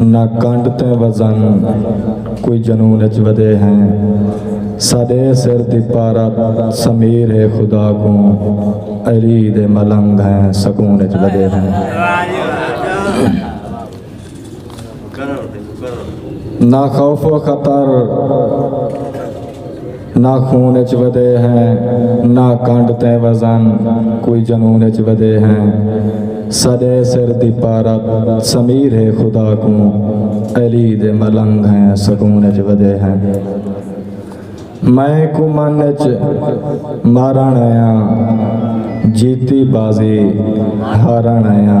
نہ کنڈ تے وزن کوئی جنون اچ ودے ہیں ساڈے سر دی پارت سمیر ہے خدا کوں علی دے ملنگ ہیں سکون اچ ودے ہیں نہ خوف و خطر نہ خون اچ ودے ہیں نہ کنڈ تے وزن کوئی جنون اچ ودے ہیں سڈے سر دی پارت سمیر ہے خدا کوں علی دے ملنگ ہیں سکون اچ ودے ہیں میں کو من اچ مارن آیا جیتی بازی ہارن آیا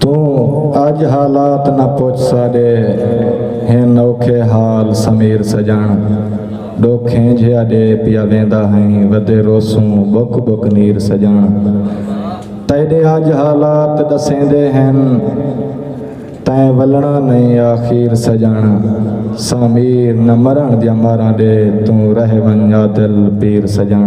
توں اج حالات نہ پچھ ساڈے ہن اوکھے حال سمیر سجن ڈوکھیں جھیا ڈے پیا ویندا ہیں ودے روسوں بک بک نیر سجن تیڈے اج حالات ڈسیندے ہن تیں ولنا نہیں آخیر سجن سامیر نہ مرن دیا مارا دے توں رہ ون دل پیر سجن